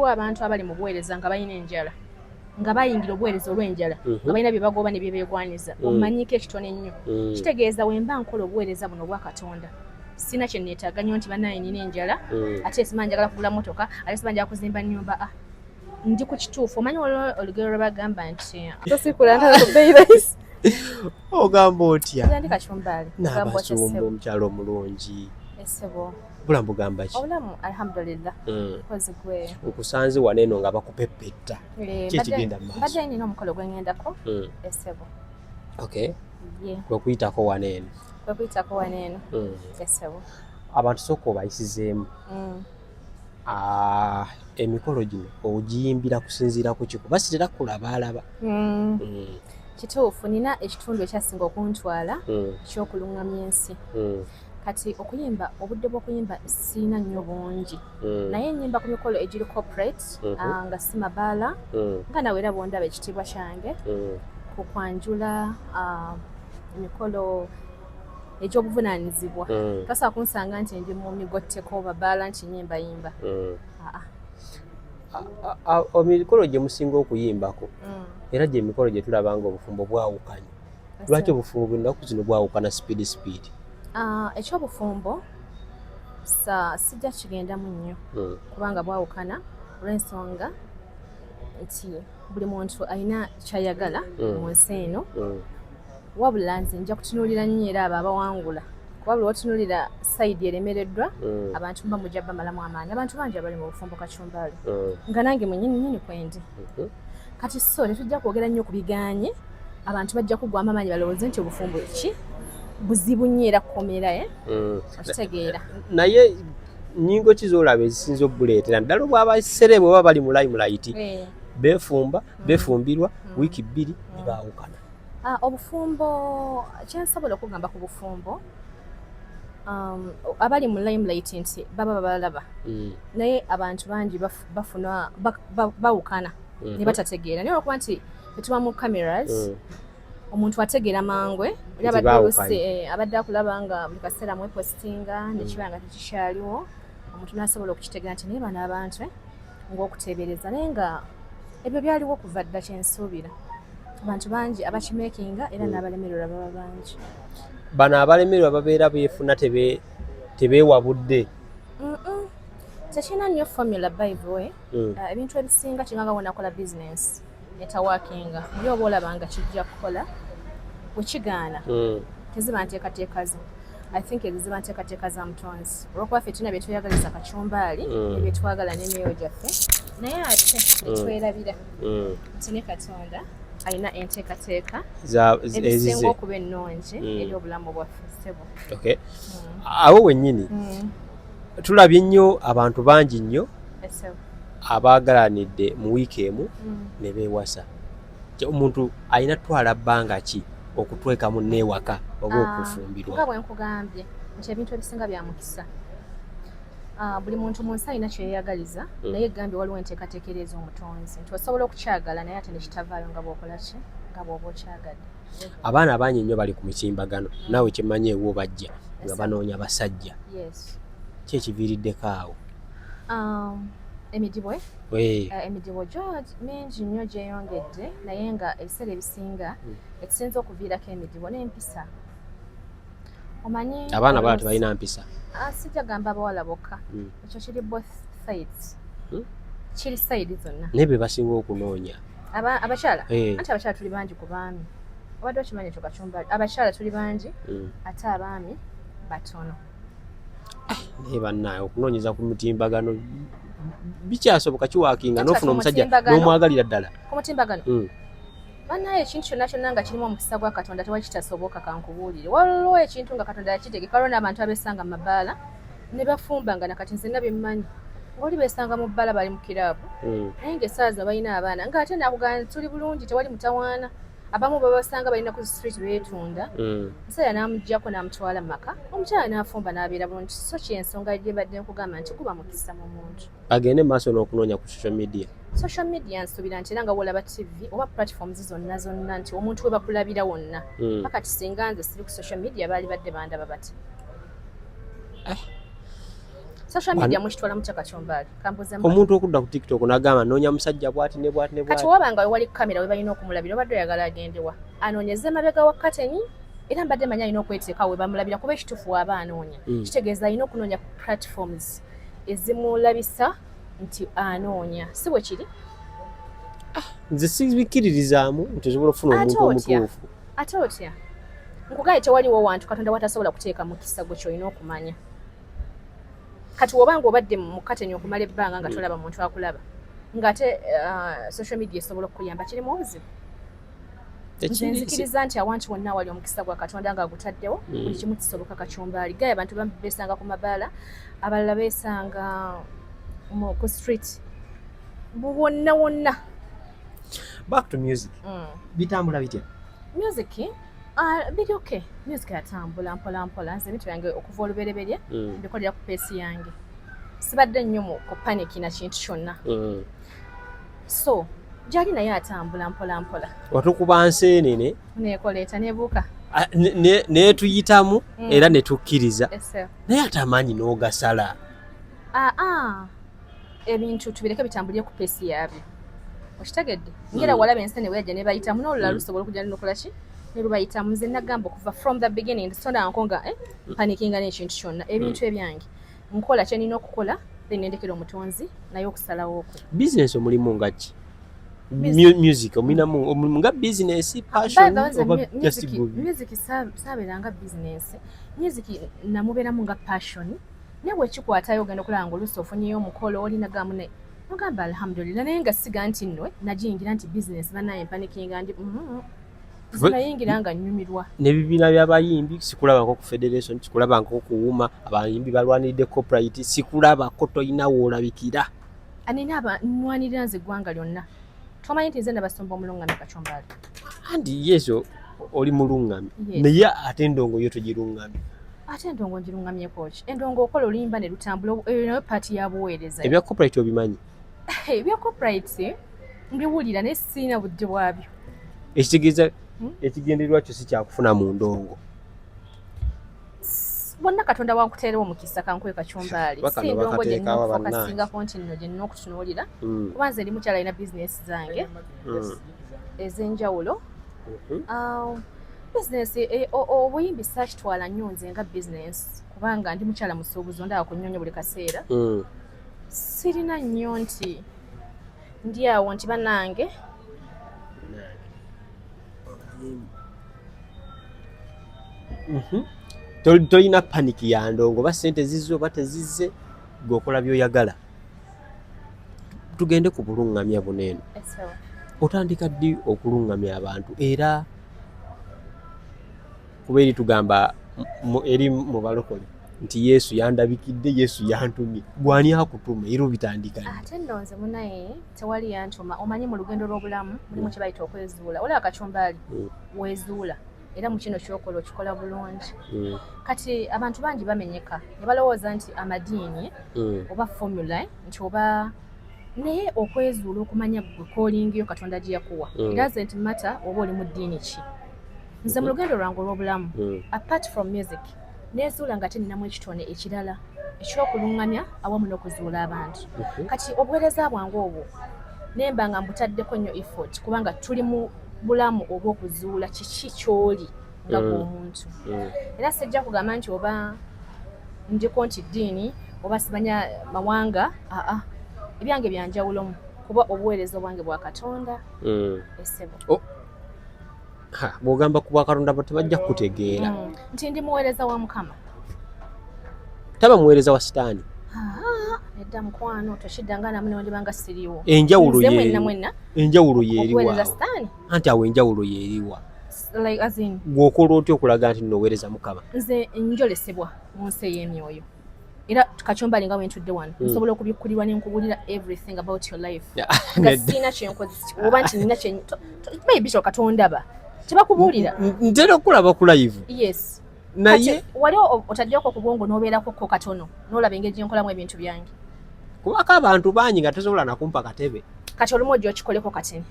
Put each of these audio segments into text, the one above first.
waliwo abantu abali mu buweereza nga balina enjala nga bayingira obuweereza olw'enjala mhm. nga balina bye bagoba ne bye beegwanyiza mm. omanyiko ekitono ennyo mm. kitegeeza wemba nkola obuweereza buno obwa katonda sina kye neetaaga nnyo nti banaye nina enjala mm. ate siba njagala kugula motoka ate siba njagala kuzimba nnyumba a ah, ndi ku kituufu omanyi olwo olugero lwe bagamba nti ah. tosikula ntala ku beirayisi ogamba otya nabasumba omukyalo omulungi esebo obulamu bugamba ki obulamu alhamdulillah hmm. kozi gwe nkusanze wano eno nga bakupeppetta eh, kyekigenda mu maaso mbadde nina omukolo gwe ngendako hmm. esebo okay kwe kuyitako wano eno kwe kuyitako wano eno hmm. esebo abantu sooka obayisizeemu ah, emikolo gino ogiyimbira kusinziira ku kiku basitera kulaba alaba kituufu nina ekitundu ekyasinga okuntwala kyokuluŋŋamya ensi kati okuyimba obudde bw'okuyimba siina nnyo bungi mm. naye nyimba ku mikolo egiri corporate mm-hmm. ah, nga si mabaala mm. nga nawe era bwondaba ekitiibwa kyange mm. ku kwanjula ah, emikolo egy'obuvunaanyizibwa tasobola kunsanga nti ndi mu migotteko babaala nti nyimbayimba ah, emikolo gye musinga okuyimbako era gyemikolo gye tulabanga obufumbo bwawukanye lwaki obufumbo bwennaku zino bwawukana sipiidi sipiidi ah, ekyobufumbo sijja kigendamu nnyo hmm. kubanga bwawukana olwensonga nti buli muntu alina kyayagala hmm. mu nsi eno hmm. wabula nze nja kutunuulira nnyo era abo abawangula kuba buli watunulira sayidi eremereddwa abantu mba mujja bamalamu amaanyi abantu bangi abali mu bufumbo kacumbali nga nange mwenyini nyini kwendi mhm. kati so tetujja kwogera nnyo ku biganye abantu bajja kugwamu amaanyi balowooze nti obufumbo ki buzibu nnyo era kukomera e eh? mm. okitegeera naye nyingo ki zolaba ezisinza okubuleetera naddala obwaba serebe oba bali mu limelayiti eh. befumba mm. befumbirwa mm. wiiki bbiri nebaawukana ah, obufumbo kyensobola okugamba ku bufumbo um, abali mu limelayiti nti baba babalaba naye abantu bangi bafuna bawukana mhm. ne batategeera naye olwokuba nti etuba mu cameras mm. omuntu ategeera mangwe oli abadde eh, abadde akulaba nga buli kaseera mwepositinga mm. nekiba nga tekikyaliwo omuntu nasobola okukitegeera nti naye bano abantu eh, ngaokuteebereza naye nga ebyo byaliwo okuva dda kyensuubira abantu bangi abakimekinga era mm. n'abalemererwa baba bangi bano abalemererwa babeera beefuna tebeewabudde tekirina nnyo formula by the way hmm. uh, ebintu ebisinga kinganga wonakola business etawakinga yo oba olaba nga kijja kukola wekigaana hmm. teziba nteekateeka zo i think ezo ziba nteekateeka za mutonzi olwokuba fe tulina byetweyagaliza kacumbaali hmm. ebyetwagala n'emyoyo gyaffe naye ate netwerabira nti ne katonda alina enteekateeka ezisinga okuba ennungi eri obulamu bwaffe sebo awo wennyini tulabye nnyo abantu bangi nnyo abaagalanidde mu wiiki emu mm. ne beewasa omuntu alina twala bbanga ki okutwekamu neewaka oba ah, okufumbirwa nga bwe nkugambye nti ebintu ebisinga bya mukisa ah, buli muntu mu nsi alina kyeyeyagaliza mm. naye egambye waliwo enteekateeka eri ez'omutonzi nti osobola okukyagala naye ate nekitavaayo nga bwokola ki nga bwoba okyagadde abaana abangi nnyo bali ku mitimbagano naawe kyemanyi ewo bajja nga banoonya basajja ki ekiviiriddeko awo um, emidibo eh? Eh, emidibo gyo mingi nnyo gyeyongedde naye nga ebiseera ebisinga hmm. ekisinza okuviirako emidibo n'empisa omanyi abaana bala tebalina mpisa ah, sijja gamba abawala bokka hmm. ekyo kiri both sides hmm? kiri side zonna naye be basinga okunoonya abakyala eh. anti abakyala tuli bangi ku baami obadde okimanyi ekyo kacumbali abakyala tuli bangi hmm. ate abaami batono ah, naye bannaaye okunoonyeza ku mutimbagano bikyasoboka kiwakinga nofuna omusajja nomwagalira ddala ku mutimbagano hmm. banaye ekintu kyonna kyonna nga kirimu omukisa gwa katonda tewali kitasoboka kankubuulire waliwo ekintu nga katonda yakitegeka waliwo n'abantu abesanga mu mabaala ne bafumbanga na kati nzenna bimmanyi oli besanga mu bbala bali mu kiraabu hmm. naye nga esaaza balina abaana nga ate nakugana tuli bulungi tewali mutawaana abamu babasanga balina ku street betunda hmm. musajja namugjako namutwala mu maka omukyala nafumba nabeera bulungi so kyensonga gyebadde nkugamba nti kuba mukisa mu muntu agende maaso n'okunoonya ku social media social media nsubira nti era nga wolaba tv oba platforms zonna zonna nti omuntu webakulabira wonna hmm. paka tisinga nze siri ku social media baali badde bandaba bati eh. social media mwekitwala mutya kakyombaali kambuze omuntu okudda ku tiktok nagamba noonya musajja bwati ne bwati ne bwati kati wabanga wewali kamera we balina okumulabira obadde oyagala agendewa anoonyeze emabega wa kateni era mbadde manyi alina okweteekawo we bamulabira kuba ekituufu waaba anoonya hmm. kitegeeza alina okunoonya ku platforms ezimulabisa nti anoonya si bwe kiri ah, nze sibikkiririzaamu nti osobola okufuna omuntu omutuufu ate otya nkugaye tewaliwo wantu katonda watasobola kuteeka mukisa gwe kyolina okumanya kati wobanga obadde mukatenya okumala ebbanga nga tolaba muntu akulaba ngaate uh, social media esobola okukuyamba kirimu obuzibu nzikiriza nti awantu wonna wali omukisa gwa katonda nga agutaddewo mm. buli kimu kisoboka kacumbaali gaye abantu bambi besanga ku mabaala abalala besanga ku street bwonna wonna Back to music. Mm. Bitambula bitya? Music ah, biri okay. Music yatambula mpola mpola. Nze mitu yange okuva olubereberye mm. mbikolera ku pesi yange. Sibadde nnyo mu ku panic na kintu kyonna. Mm. So gyali naye atambula mpola mpola. Watukuba nseenene. Neekoleeta neebuuka. Ah, netuyitamu mm. era netukkiriza naye ate amaanyi n'ogasala aa ah, ah. ebintu tubireke bitambulire ku peesi yaabyo okitegedde ngera hmm. walaba ensi neweyaja nebayitamu nolula hmm. lusobola okuja nokola ki nelubayitamu nze nagamba okuva from the beginning sondanko nga eh, mpanikinga nekintu kyonna ebintu hmm. ebyange nkola kyenina okukola then nendekera omutonzi naye okusalawo okwe business omulimu ngaki music omuinamu omulimu nga business passionmusic sabeeranga business music namubeeramu nga passion naye bwekikwatayo ogenda okulaba nga oluusi ofunyeyo omukolo olina gamu naye nogamba alhamdulillah naye nga siga nti nno nagiyingira nti bizinesi banaye mpanikinga ndi mm-hmm. zinayingira nga nyumirwa nebibiina byabayimbi sikulabako ku federation sikulabako kuwuma abayimbi balwaniride coprit sikulabako tolina woolabikira anina abanwanirira nze eggwanga lyonna tomanyi nti nze nabasumba omulungami kacombali andi yezo oli mulungami naye ate endongo yo togirungami ate endongo ngirungamyeko ki endongo okola oluyimba ne lutambula eyo nayo paati ya buweereza ebya copyright obimanyi ebya copyright mbiwulira naye sirina budde bwabyo ekitegeeza hmm? ekigendererwa kyo si kyakufuna mu ndongo bonna katonda wankuteerewo omukisa kankuwe kacumbaali si ndongo gyenfokasingako nti nno gyenina okutunuulira hmm. kuba nze ndi mukyala alina bizinesi zange hmm. ez'enjawulo mhm. um, bizinesi e, obuyimbi sakitwala nnyo nze nga bizinesi kubanga ndi mukyala musuubuzi ondaba ku nnyonyo buli kaseera mm. sirina nnyo nti ndi awo nti banange mhm. tolina paniki ya ndongo oba sente zizze oba tezizze gweokola byoyagala tugende ku buluŋŋamya buno eno otandika ddi okuluŋŋamya abantu era kuba eri tugamba eri mu balokole nti yesu yandabikidde yesu yantumye gwani akutuma era obitandika ate nno nze munaye tewali yantuma omanyi mu lugendo lw'obulamu mulimu kye bayita okwezuula olaba kacumbaali mm. wezuula era mu kino kyokola okikola bulungi mm. kati abantu bangi bamenyeka ne balowooza nti amadiini mm. oba formula nti oba naye okwezuula okumanya gwe kolingiyo katonda gye yakuwa mm. doesn't matter oba oli mu ddiini ki nze mu lugendo lwange olw'obulamu apart from music nezuula nga teninamu ekitone ekirala ekyokuluŋŋamya awamu n'okuzuula abantu kati obuweereza bwange obwo nemba nga mbutaddeko nnyo effort kubanga tuli mu bulamu oba okuzuula kiki kyoli nga mm. bwomuntu mm. era sijja kugamba nti oba njiko nti ddiini oba simanya mawanga aa ebyange byanjawulomu kuba obuweereza obwange bwa katonda mm. esebo oh. bwogamba ku bwakatonda bo tebajja kukutegeera nti ndi muweereza wa mukama taba muweereza wa sitaani nedda mukwano tokiddanga namu newandibanga siriwo enjawulo enjawulo yeeriwa anti awo enjawulo yeeriwa like as in gwokola otya okulaga nti noweereza mukama nze njolesebwa mu nsi ey'emyoyo era kacombali nga wentudde wano hmm. nsobola okubikkulirwa ne nkubulira everything about your life nga siina kyenkozesa oba nti nina kye maybe kyoka tondaba tebakubuulira ntera okulaba ku live yes naye wali otaddeko ku bwongo n'obeerako ko katono n'olaba engeri gye nkolamu ebintu byange kubako abantu bangi nga tesobola nakumpa katebe kati olumu ojja okikoleko katini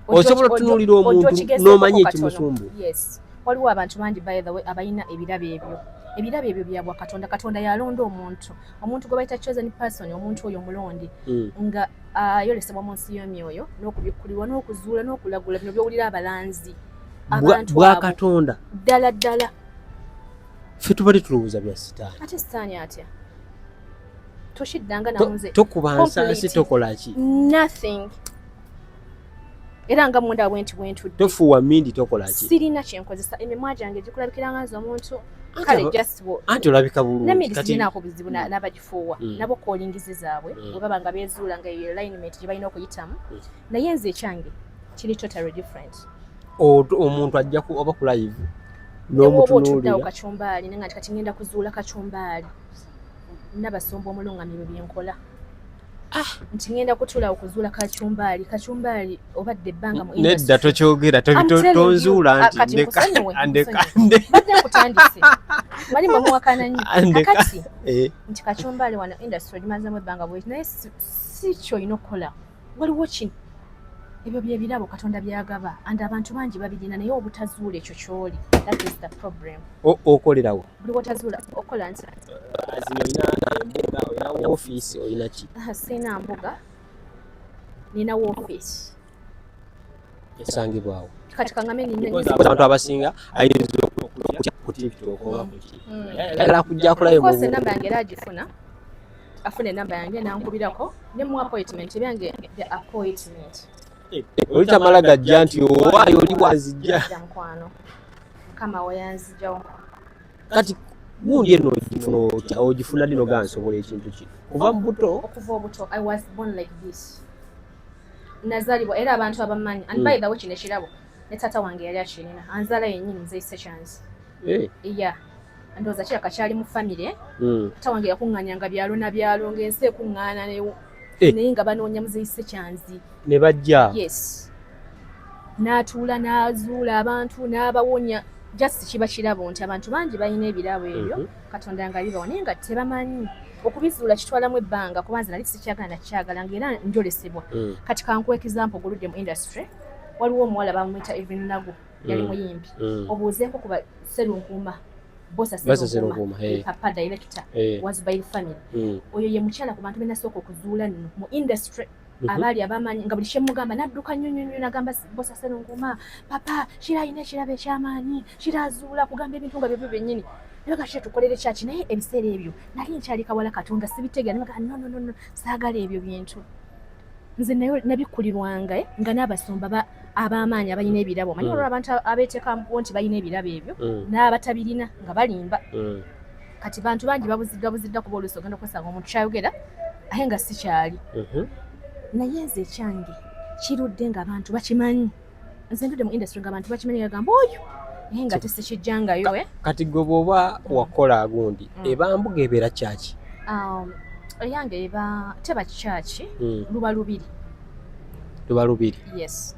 osobola otunuulira omuntu n'omanya ekimusumbu waliwo abantu bangi by the way abalina ebirabo ebyo ebirabo ebyo byabwa katonda katonda yalonda omuntu omuntu gwe bayita chosen person omuntu oyo omulonde hmm. nga ayolesebwa ah, mu nsi y'emyoyo n'okubikkulirwa n'okuzuula n'okulagula bino byowulira abalanzi mm. bwa katonda ddala ddala ffe tubadde tulowooza bya sitaani ate sitaani atya tokubansansi tokolaki era nga munda bwenti bwentudde tofuwa mindi tokolaki sirina kyenkozesa emimwa gyange gikulabikira nga nze omuntu kale just anti olabika bulunginako bizibu mm. nabagifuuwa mm. nabo kolingizi zaabwe mm. webaba nga bezuula nga eyo alignment gye balina okuyitamu naye nze ekyange kiri totally different omuntu ajja ku oba ku live n'omutunuulira kacumbaali naye nga kati ngenda kuzuula kacumbaali nabasumba omulungamye bye byenkola ah! nti ngenda kutula okuzuula kacumbaali kacumbaali obadde ebbanga nedda tokyogera tonzuula ah, ntiandekandekutandise wali mwemuwakananyi akati eh. nti kacumbaali wano industry ogimazamu ebbanga bwe naye si kyoyina okukola waliwo kino ebyo byebirabo katonda byagaba and abantu bangi babirina naye obutazuula ekyo kyoli that is the problem okolerawo buli wotazuula okola nti ofiisi olinaki siina mbuga ninawo ofiisi esangibwawo kati kangame abantu abasinga ayinza okutya ku tiktok oba kuki mm. ayagala kujja akolayo mu namba yange era agifuna afuna enamba yange nankubirako ne mu appointment ebyange the appointment eh, olitamala gajja nti owaayo oli bwazijja mukwano mukama weyanzijawo kati gundi eno ogifuna otya ogifuna dino gansobola ekintu ki kuva mu buto okuva obuto i was born like this nazalibwa era abantu abamanyi and by hmm. the way kino ekirabo ne taata wange yali akirina anzala yennyini nze sekyanzi Eh. Iya. Ndoza kya kachali mu family. Mm. Tawange yakunganya nga byalo na byalo ngense kungana ne eh. ne nga banonya muzeyise kyanzi. Ne bajja. Yes. Natuula nazuula abantu n'abawonya just kiba kirabo nti abantu bangi balina ebirabo ebyo mm -hmm. katonda nga bibawo naye nga tebamanyi okubizuula kitwalamu ebbanga kuba nze nali sikyagala nakyagala nga era njolesebwa mm. kati kankuwa example oguludde mu industry waliwo omuwala bamwita evinnagu yali mm. muyimbi mm. obuuzeeko kuba serunkuuma bosa serunkuuma eh. papa director eh. was by the family mm. oyo ye mukyala ku bantu benasooka okuzuula nno mu industry mhm. abaali abamanyi nga buli kyemugamba nadduka nnyo nnyo nnyo nagamba bosa serunkuuma papa kira alina ekirabo ekyamaanyi kira azuula kugamba ebintu nga byebyo byennyini nabaga kira tukolere kyaki naye ebiseera ebyo nali nkyali kawala katonda sibitegera nabaga nononono saagala ebyo bintu nze nayo nabikkulirwanga eh, nga n'abasumba ab'amaanyi abalina ebirabo omanyi mm. olwo abantu abeeteekamukuwo nti balina ebirabo ebyo mm. n'abatabirina nga balimba mm. kati bantu bangi babuziddwa buziddwa kuba oluusi ogenda okwesanga omuntu kyayogera aye nga sikyali mm-hmm. naye nze ekyange kirudde ng'abantu bakimanyi nze ntude mu industry ngabantu bakimanyi bagamba oyo naye nga tesikijjangayo eh? kati gwe bwoba wakola agundi mm. eba mbuga ebeera kyaki um, eyange eba teba kyaki mm. luba lubiri luba lubiri yes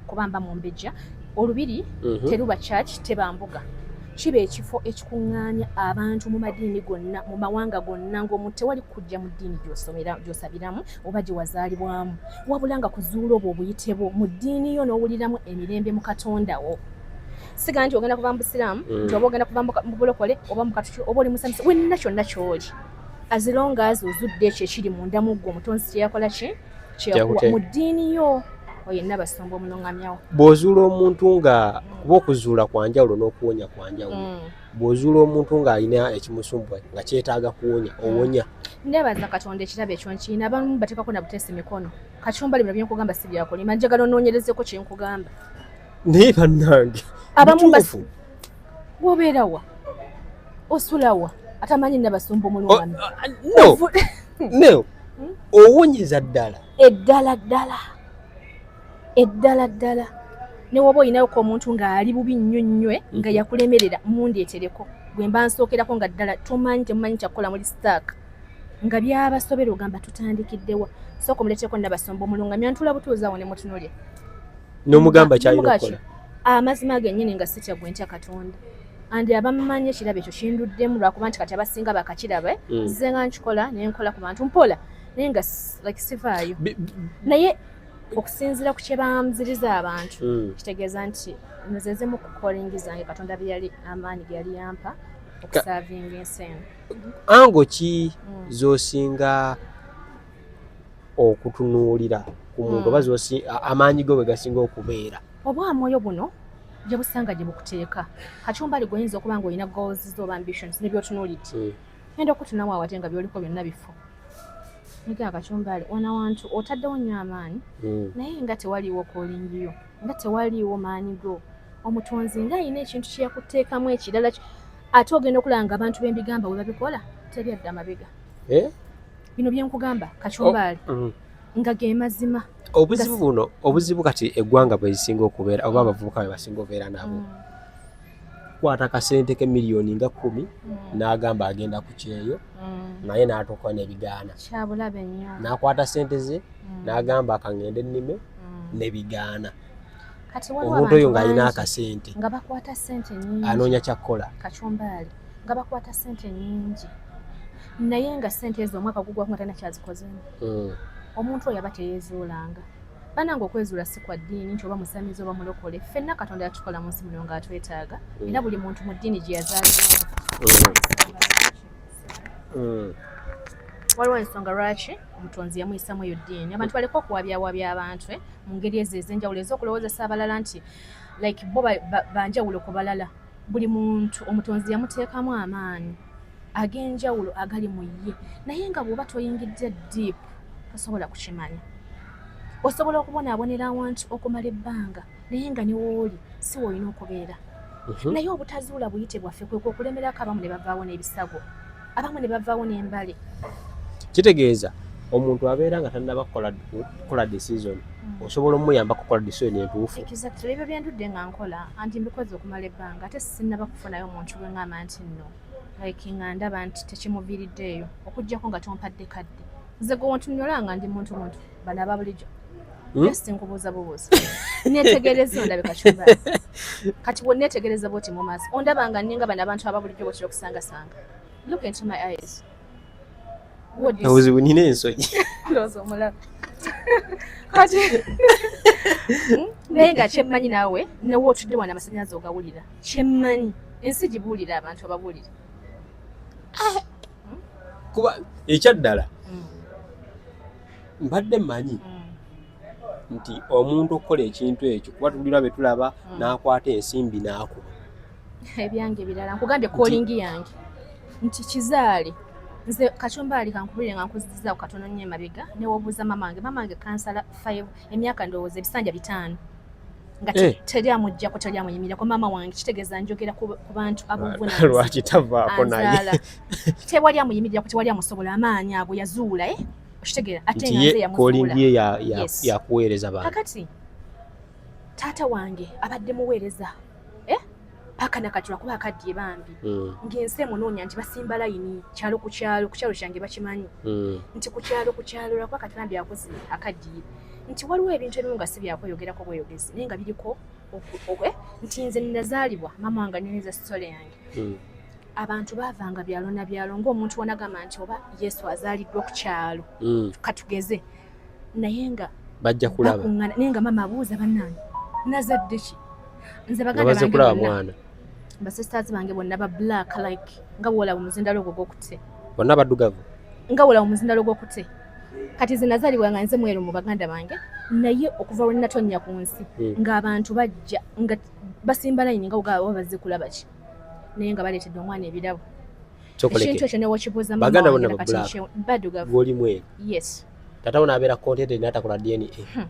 kubamba mu mbejja olubiri mhm. teruba kyaki teba mbuga kiba ekifo ekikuŋŋaanya abantu mu madiini gonna mu mawanga gonna ng'omuntu tewali kujja mu ddiini gy'osabiramu oba gye wazaalibwamu wabula nga kuzuula obwo obuyite bwo mu ddiini yo n'owuliramu emirembe mu katonda wo siga nti ogenda kuva mu busiraamu mm. nti oba ogenda kuva mu bulokole oba mu katuki oba oli musanyusa wenna kyonna kyoli azilonga azi ozudde ekyo ekiri munda mu ggwe omutonzi kyeyakola ki kyeyakuwa mu ddiini yo oyenna basumba omulungamyawo bw'ozuula omuntu nga kuba okuzuula kwanjawulo n'okuwonya kwanjawulo mm. bw'ozuula omuntu ng'alina ekimusumbuwa nga kyetaaga kuwonya hmm. owonya nebaza katonda ekirabo ekyo nkirina abamu bateekako na buteesi mikono kacumba libula byenkugamba si byakulima njagala onoonyerezeko kyenkugamba naye bannange abamu wobeerawa osulawa atamanyi nabasumba omulwano oh, uh, uh, hmm? owonyeza ddala eddala ddala eddala ddala newoba olinayoko omuntu ngaali bubi nnyo nnywe nga mm-hmm. yakulemerera mundeetereko gwe mba nsookerako nga ddala tomanyi temumanyi kyakukola muli stark nga byabasobera ogamba tutandikiddewa sooka omuleteeko nabasomba omulunga myantula butuuzawo ne mutunule nomugamba kyayinaokukola amazima ah, genyini nga sitya gwe ntya katonda andi abamumanyi ekirabo ekyo kinduddemu lwakuba nti kati abasinga bakakirabe mm. nze nga nkikola nenkola ku bantu mpola naye nga like sivaayo naye okusinziira ku kyebanziriza abantu hmm. kitegeeza nti nzeze mu kukolingi zange katonda byeyali amaanyi geyali yampa okusavinga ensi eno ango ki hmm. zosinga okutunuulira ku muntu hmm. oba amaanyi go bwegasinga okubeera obwamwoyo buno gyebusanga gyebukuteeka kacumbali gwoyinza okuba nga olina goals zo oba ambitions nebyotunuulidde Enda okutunawo awate nga byoliko byonna bifu. Nige akacumbali ona wantu otaddewo nnyo amaanyi mm. naye nga tewaliiwo kolingiyo nga tewaliiwo maanyi go omutonzi nga alina ekintu kyeyakuteekamu ekirala ate ogenda okulaba nga abantu bembigamba we babikola teri adda mabega eh? bino byenkugamba kacumbaali oh, mm. nga ge mazima obuzibu buno obuzibu kati eggwanga bwezisinga okubeera oba abavubuka bebasinga okubeera nabo mm. kwata kasente ke miliyoni nga kumi mm. n'agamba agenda ku kyeyo mm. naye n'atuuka n'ebigaana n'akwata sente ze mm. n'agamba akangende ennime n'ebigaana omuntu oyo ng'alina akasente anoonya kyakkola nga bakwata sente nyingi naye nga sente ezo omwaka gugwaku nga tanakyazikoze omuntu oyo aba teyezuulanga banange okwezuula si kwa ddiini nti oba musamizi oba mulokole ffenna katonda yatukola mu nsi muno nga atwetaaga mm. era buli muntu mu ddiini gye yazaalibwamu mm. mm. waliwo ensonga lwaki omutonzi yamuyisamu eyo ddiini abantu baleka okuwabyawabya abantu eh, mu ngeri ezo ez'enjawulo ez'okulowoozesa abalala nti like bo banjawulo ku balala buli muntu omutonzi yamuteekamu amaanyi ag'enjawulo agali mu ye naye nga bw'oba toyingidde deep tosobola kukimanya osobola okubonaabonera awantu okumala ebbanga naye nga niwooli si woolina okubeera mhm. naye obutazuula buyite bwaffe kwekwo okulemerako abamu ne bavaawo n'ebisago abamu ne bavaawo n'embale kitegeeza omuntu abeera nga tannaba kukola decision hmm. osobola omuyamba kukola decision entuufu exactly ebyo byendudde nga nkola anti mbikoze okumala ebbanga ate sinnaba kufunayo omuntu gwe ngamba nti nno like nga ndaba nti tekimuviiriddeeyo okuggyako nga tompadde kadde nze gwe ontunyola nga ndi muntu muntu bano aba bulijjo Hmm? just nkubuuza bubuuza netegereza ondabika kyuba kati bwonetegereza bwoti mu maaso ondaba nga ninga bano abantu ababulijjo bwekira okusangasanga obuzibu nina ensonyi kati hmm? naye nga kyemmanyi naawe newe otudde wana amasanyalaze ogawulira kyemmanyi ensi gibuulira abantu ababuulira ah. kuba ekyaddala hmm. mbadde manyi mm. nti omuntu okukola ekintu ekyo kuba tugirwa be tulaba hmm. n'akwata ensimbi n'akuba ebyange birala nkugambye kolingi yange nti kizaali nze kacumba ali kankubulire nga nkuzizaako katono nnyo emabega newobuuza mama wange mama wange kansala five emyaka ndowooza ebisanja bitaano nga eh. teri amujjako teri amuyimirako maama wange kitegeeza njogera ku bantu abovunalwaki tavaako naye tewali amuyimirirako tewali amusobola amaanyi ago yazuula e eh? okitegeera ate nga nze yamufuula ye ya ya ya kuweereza bantu kakati taata wange abadde muweereza eh paka nakati lwakuba akaddiye bambi mm. ng'ensi emunoonya nti basimba layini kyalo ku kyalo ku kyalo kyange bakimanyi mm. nti ku kyalo ku kyalo lwakuba kati bambi akoze akaddiye nti waliwo ebintu ebimu nga si byakweyogerako bweyogezi naye nga biriko okwe nti nze nazaalibwa mama wange aneneza sitole yange mm. abantu baavanga byalo na byalo ng'omuntu wanagamba nti oba yesu azaaliddwa ku kyalo mm. katugeze naye nga bajja kulaba naye nga maama abuuza bannange nazadde ki nze baganda kulaba mwana basisters bange bonna ba black like nga woolaba omuzindalo ogwo gwokute bonna baddugavu nga woolaba omuzindalo gwokute kati nze nazaalibwa nga nze mweru mu baganda bange naye okuva lwe natonnya ku nsi hmm. ng'abantu bajja nga basimba layini nga ogaa oba bazze kulaba ki naye nga baleetedde omwana ebirabo ekintu ekyo newakibuuza baganda bona badugavu oli mweru yes tata wona abeera contented natakola dna hmm.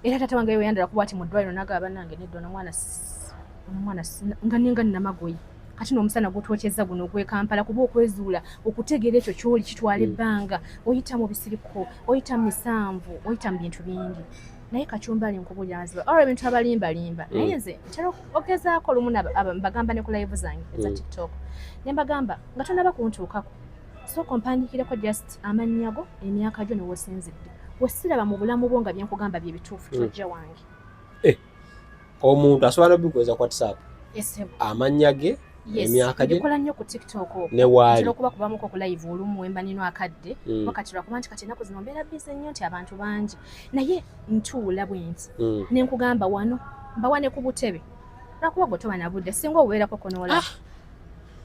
era tata wange weyandala kuba ati mu ddwaliro nagaba banange nedda ono omwana omwana nga ninga namagoyi kati n'omusana gwotwokyezza guno ogwekampala kuba okwezuula okutegeera ekyo kyoli kitwala hmm. ebbanga oyita mu bisiriko oyita mu misanvu oyita mu bintu bingi naye kachumbali nkubulira nziba olwo ebintu abalimbalimba mm. naye nze ntera ogezaako olumu mbagamba ne ku live zange eza mm. tiktok ne mbagamba nga tonaba kuntuukako sooka ompandikireko just amannya go emyaka gyo ne wosinzidde wesiraba mu bulamu bwo nga byenkugamba bye bituufu mm. tojja wange eh. omuntu asobola nobikweza ku whatsapp amannya ge emyaka gye nkola nnyo ku tiktok ne waali okuba kubamuko ku live olumu wemba nino akadde mm. wakati lwakuba nti kati ennaku zino mbeera bize nnyo nti abantu bangi naye ntuula bwenti mm. ne nkugamba wano mbawa ne ku butebe lwakuba gwe toba na budde singa obubeerako konoola ah!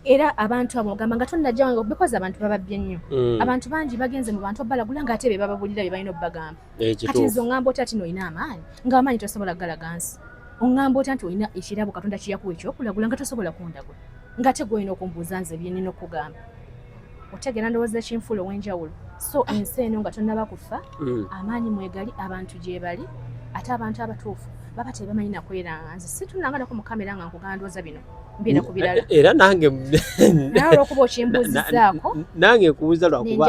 era abantu abo ogamba nga tonnajawange bikozi abantu bababbye nnyo mm. abantu bangi bagenze mu bantu obalagula nga ate be bababulira bye balina obubagamba eh, kati nze oŋŋamba otya tino olina amaanyi ng'amaanyi tosobola kugalaga nsi oŋŋamba otya nti olina ekirabo katonda kiyakuwa ekyokulagula nga tosobola kundagula ng'ate gwolina okumbuuza nze byenina okukugamba otegera ndowooza ekinfuula ow'enjawulo so ensi eno nga tonnaba kufa mm. amaanyi mwegali abantu gyebali ate abantu abatuufu baba tebamanyi nakweranga nze situnanganako mu kamera nga nkugandooza bino mbeera ku birala era nange nawe olwokuba okimbuuzizaako nange nkubuuza lwakuba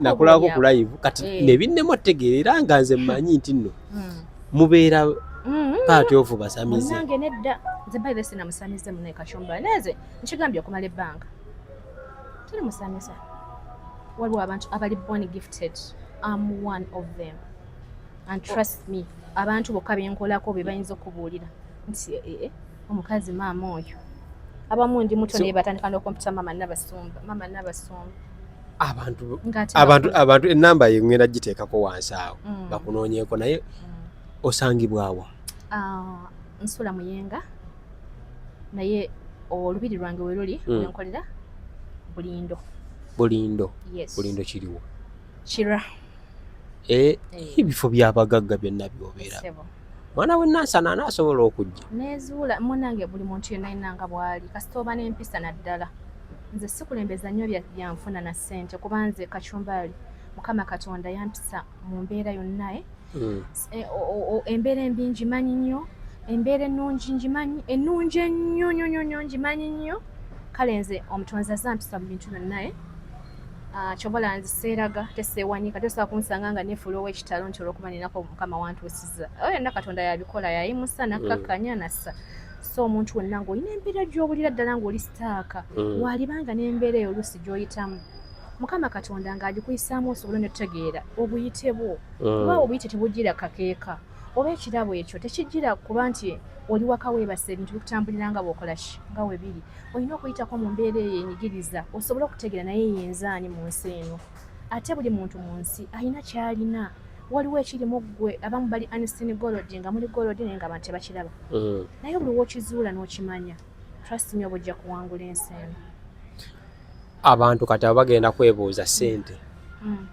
nakulako ku live kati eh. nebinnemu otegeera era nga nze mmanyi nti nno hmm. mubeera Mm-hmm. paati ovu basamize nange nedda nze bayibe sina musamize mune kacumba neze nkigambye okumala ebbanga tuli musamiza waliwo abantu abali born gifted am one of them and trust me abantu bokka benkolako bebayinza okubuulira nti ee eh, eh, eh. omukazi maama oyo abamu ndi muto naye batandika n'okumpita maama nabasumba maama nabasumba abantu abantu abantu enamba ye ngenda giteekako wansi awo mm. bakunoonyeeko naye mm. osangibwawa ah, nsula muyenga naye olubiri lwange weruli mm. wenkolera bulindo bulindo yes. bulindo kiriwo kira eh, eh. ebifo byabagagga byonna byobeera mwana we nansana anaasobola okujja nezuula munange buli muntu yenna yenna nga bwali kasita oba n'empisa naddala nze sikulembeza nnyo byanfuna na ssente kuba nze kacumbaali mukama katonda yampisa mu mbeera yonna eh. hmm. embeera embi ngimanyi nnyo embeera ennungi ngimanyi ennungi ennyo nyo nyo nyo ngimanyi nnyo kale nze omutonzi azampisa mu bintu byonna Ah, kyobola nze seeraga teseewanyika tosobola kunsanga nga nefuula ow'ekitalo nti olwokuba ninako mukama wantuusiza oyo yonna katonda yabikola yayimusa mm. nakkakkanya nassa so omuntu wonna ng'olina embeera gy'obulira ddala ng'oli sitaaka mm. waalibanga n'embeera eyo oluusi gy'oyitamu mukama katonda ng'agikuyisaamu osobole ne tutegeera obuyite bwo mm. kuba obuyite tebujira kakeeka oba ekirabo ekyo tekijjira kuba nti oli waka weebasa ebintu bikutambulira nga bwokola ki nga we biri olina okuyitako mu mbeera eyo enyigiriza osobole okutegeera naye yenzaani mu nsi eno ate buli muntu mu nsi alina kyalina waliwo ekiri mu ggwe abamu bali anistini golodi nga muli golodi naye nga abantu tebakiraba mm. naye buli wokizuula n'okimanya trust me obujja kuwangula ensi eno abantu kati abo bagenda kwebuuza sente mm.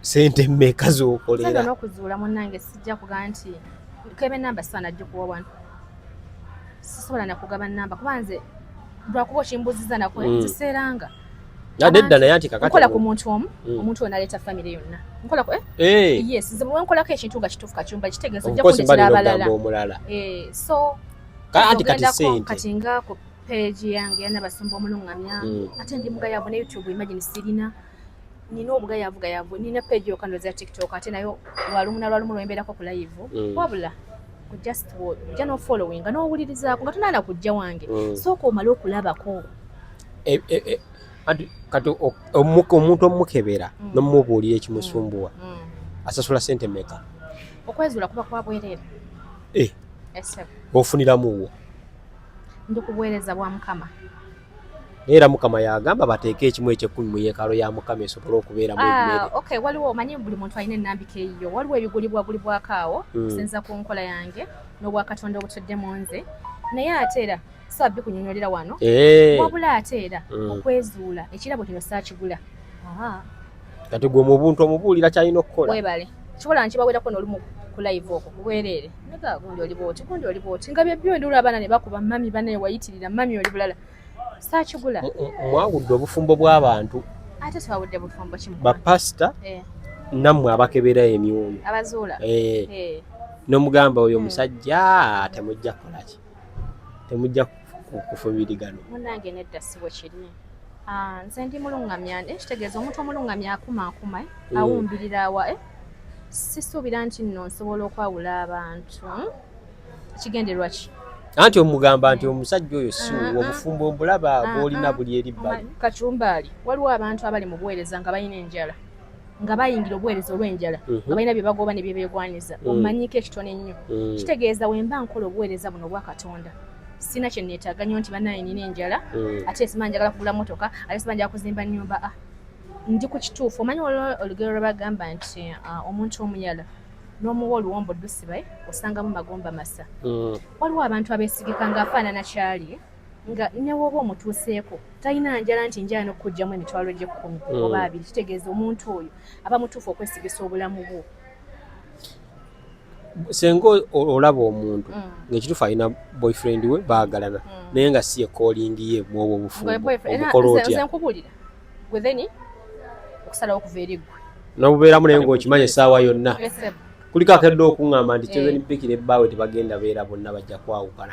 sente mmeka zokolera nokuzuula munange sijja kuga nti kebe namba sana jikuwa wano sisobola nakugaba namba kuba nze lwakuba okimbuziza nakwe mm. ziseeranga nadedda naye ati kakatnkola ku muntu omu mm. omuntu oyo naleeta famire yonna nkola eh? Eh. yes nze bwenkolako ekintu nga kituufu kakyumba kitegeeza ojja kundetera abalala eh, so kati sente kati nga peegi yange yana basumba omulungamya mm. ate ndi mugayavu ne youtube imagine sirina nina obugayavu gayavu nina peegi yoka ndoza tiktok ate nayo lwalumu nalwalumu lwembeerako ku layivu mm. wabula just ojja nofollowinga nowulirizaako nga tonaana kujja wange mm. sooka omale okulabako e, e, e, kati omuntu omukebera nomubuulira ekimusumbuwa asasula sente meka okwezuula kuba kwabwerere ofuniramuwo ndi ku buweereza bwa Mukama. Era Mukama yagamba bateeke ekimu eky'ekkumi mu yeekalo ya Mukama esobole okubeeramu ah, emmere. Okay, waliwo omanyi buli muntu alina ennambika eyiyo. Waliwo ebigulibwagulibwako awo hmm. okusinza ku nkola yange n'obwakatonda obutudde mu nze naye ate era saba bikunyonyolera wano eh. wabula ate era hmm. okwezuula ekirabo kino saakigula kati gwe mu buntu omubuulira kyalina okukola webale kibola nkibawerako nolumu ku live okwo kubwerere naga gundi oli bwoti gundi oli bwoti nga byebyo ndi olaba nane bakuba mami banaye wayitirira mami oli bulala sakigula mwawudde obufumbo bw'abantu ate twawudde bufumbo kimu bapasita eh. nammwe abakebera emyoyo abazuula eh. eh. nomugamba oyo omusajja temujja kukolaki temujja kufubirigano munange nedda siwe kiri ah, nze ndi mulungamya eh, kitegeeza omuntu omulungamya akumaakuma eh, mm. awumbirira awa eh? sisuubira nti nno nsobola okwawula abantu hmm? kigenderwa ki anti omugamba nti omusajja oyo si ah, ah. obufumbo mbulaba bwolina buli eri bbali kacumbaali waliwo abantu abali mu buweereza nga balina enjala nga bayingira obuweereza olw'enjala mhm. nga balina bye bagooba ne bye beegwanyiza mm. omanyiiko ekitono ennyo mm. kitegeeza we mba nkola obuweereza buno obwa katonda sina kye neetaaga nnyo nti banaye nina enjala mm. ate siba njagala kugula motoka ate siba njagala kuzimba nnyumba a ah, ndi ku kituufu omanyi waliwo olugero lwe bagamba nti ah, omuntu omuyala n'omuwa oluwombo dusibaye osangamu magomba masa waliwo abantu abeesigika ng'afaanana kyali nga newooba omutuuseeko talina njala nti njala nokukugjamu emitwalo gyekkumi hmm. oba abiri kitegeeza omuntu oyo aba mutuufu okwesigisa obulamu bwo senga olaba omuntu hmm. ngaekituufu alina boyfriend we baagalana hmm. naye nga si ekolingi ye mwobwo obufumbuomukola otyankubulira gwe theni okusalawo okuva eri gwe nobubeeramu naye ngaokimanyi essaawa yonna kuliko akedde okuŋŋamba nti chosen eh. bikira ebbaawe tebagenda beera bonna bajja kwawukana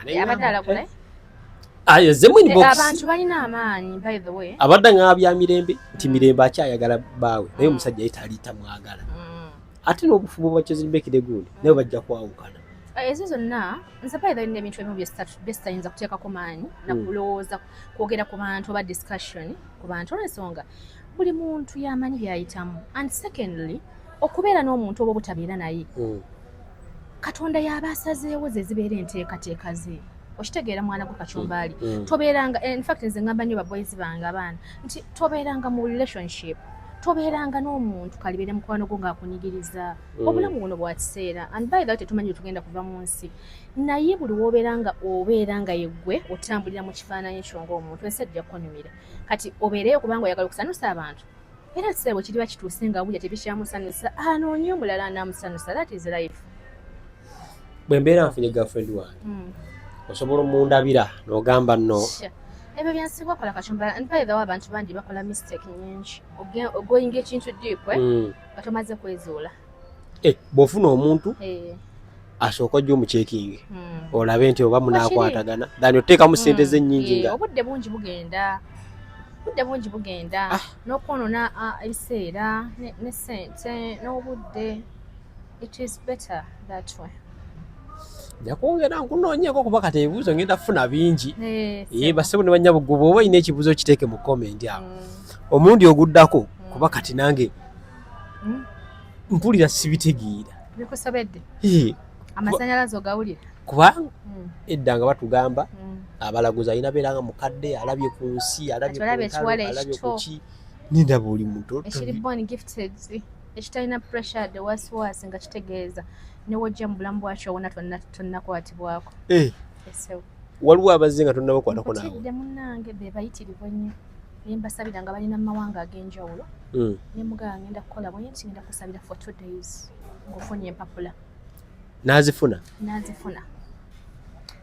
abadde ng'abya mirembe nti mm. mirembe akyayagala bbaawe naye mm. omusajja ye tali tamwagala mm. ate n'obufubo bwa chosen bikira egundi naye bajja kwawukana eh, ezo zonna nsapayi balina ebintu ebimu byesitayinza kuteekako maanyi nakulowooza kwogera ku bantu oba discussion ku bantu olwensonga buli muntu yamanyi byayitamu and secondly okubeera n'omuntu oba obutabeera naye hmm. katonda yaba asazeewo ze zibeera enteekateeka ze okitegeera mwana gwe kacumbaali hmm. hmm. tobeeranga eh, infact nze ngamba nnyo baboyizi bange abaana nti tobeeranga mu relationship tobeeranga n'omuntu kalibeere mukwano gwo ng'akunyigiriza obulamu buno bwa kiseera and by the way tetumanyi tugenda kuva mu nsi naye buli woobeera nga obeera nga yeggwe otambulira mu kifaananyi kyo ng'omuntu ensi ajja kukunyumira kati obeereyo kubanga oyagala okusanusa abantu era sebo bwe kiriba kituuse nga wulya tebikyamusanyusa anoonye omulala anaamusanyusa that is life bwe mbeera nfunye girlfriend wange hmm. osobola omundabira n'ogamba no ebyo byensi bakola kacumba and by the way abantu bandi bakola mistake nyingi ogoyinga ekintu deep eh? hmm. nga tomaze kwezuula Eh, bwofuna omuntu eh. asooka ojja omucekinge hmm. olabe nti oba munakwatagana dani oteekamu hmm. sente ze nyingi nga eh, obudde bungi bugenda obudde bungi bugenda ah. nokwonona ah, ebiseera ne sente n'obudde it is better that way njakwongera nkunoonyeko kuba kati ebibuuzo ngenda kufuna bingi ye basebo ne banyabuggu bwoba olina ekibuuzo kiteeke mu komenti awo hmm. omundi oguddako kuba kati nange hmm? mpulira sibitegeera bikusobedde amasanyalaze ogawulira kubanga hmm. edda nga batugamba hmm. abalaguzi alina beera nga mukadde alabye ku nsi alabye kuki ninda buli muto ekitalina pressure de wasiwasi nga kitegeeza newojja mu bulamu bwakyo wona tonnakwatibwako eh. waliwo abazze nga tonnabakwatako naawe otidde munnange be bayitirivu ennyo naye mbasabira nga balina mu mawanga ag'enjawulo hmm. ne mugala ngenda kukola bwe nti ngenda kusabira for two days ng'ofunye empapula n'azifuna n'azifuna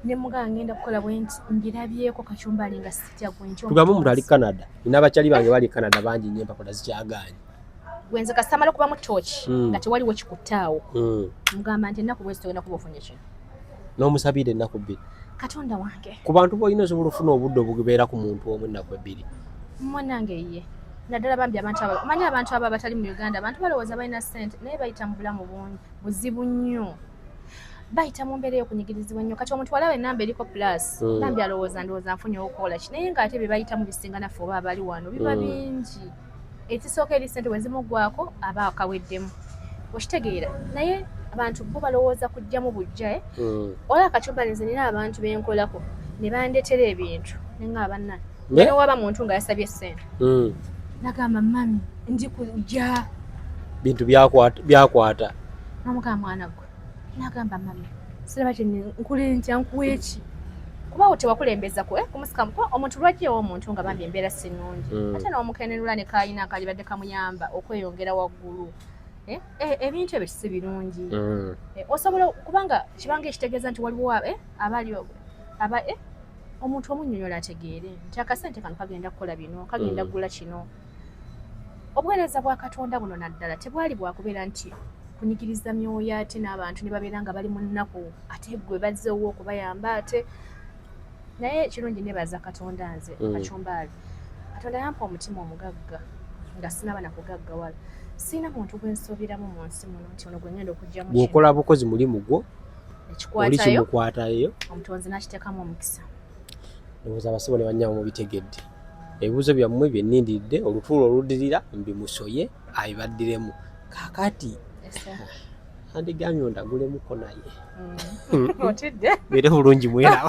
ne mugala ngenda kukola bwe nti mbirabyeko kacumbali nga sitya gwe nti tugambe omuntu ali canada nina abakyali bange bali canada bangi nnyo empapula zikyagaanyi gwenze kasita amala okubamu tooki hmm. nga tewaliwo kikuttaawo hmm. mugamba nti ennaku bwezi togenda kuba ofunye kino n'omusabiira ennaku bbiri katonda wange ku bantu boolina osobola ofuna obudde obubeera ku muntu omu ennaku ebbiri mwanange ye naddala bambi abantu abo omanyi abantu abo abatali mu uganda abantu balowooza balina ssente naye bayita mu bulamu bungi buzibu nnyo bayita mu mbeera eyokunyigirizibwa nnyo kati omuntu walawo enamba eriko plus hmm. bambi alowooza ndowooza nfunye okola ki naye ngaate bye bayitamu bisinga naffe oba abali wano biba bingi ekisooka eri sente wezimuggwako aba akaweddemu okitegeera naye abantu bo balowooza kujjamu bujja eh? hmm. ola akacubalinze nina abantu benkolako ne bandetera ebintu nenga abanna naye waba muntu nga yasabye sente hmm. nagamba mami ndi kujja bintu byakwata byakwata namugamba mwana gwe nagamba mama siraba ti nkuli ntya nkuweeki kubawo tewakulembeza kwe eh, kumusikamu kuba omuntu lwaki ewa omuntu nga bambi embeera si nnungi mm. ate n'omukenenula ne kayina akalibadde kamuyamba okweyongera waggulu eh, eh, ebintu ebyo si birungi mm. osobola kubanga kibanga ekitegeeza nti waliwo abali omuntu omunyonyola ategeere nti akasente kano kagenda kukola bino kagenda mm. kugula kino obuweereza bwa katonda buno naddala tebwali bwakubeera nti kunyigiriza myoyo ate n'abantu ne babeera nga bali mu nnaku ate gwe bazze owo okubayamba ate naye ekirungi nebaza katonda nze mm. kacumbaali katonda yampa omutima omugagga nga sinaba nakugaggawala sirina muntu gwensobiramu mu nsi muno nti ono gwengenda okugjamu bwokola bukozi mulimu gwo oli kimukwatayo omutonzi nakiteekamu omukisa ndowooza abasebo ne bannyabo mubitegedde ebibuuzo byammwe bye nnindiridde olutuula oludirira mbimusoye abibaddiremu kaakati andigambye ondagulemu ko naye mm. otidde beere bulungi mweraba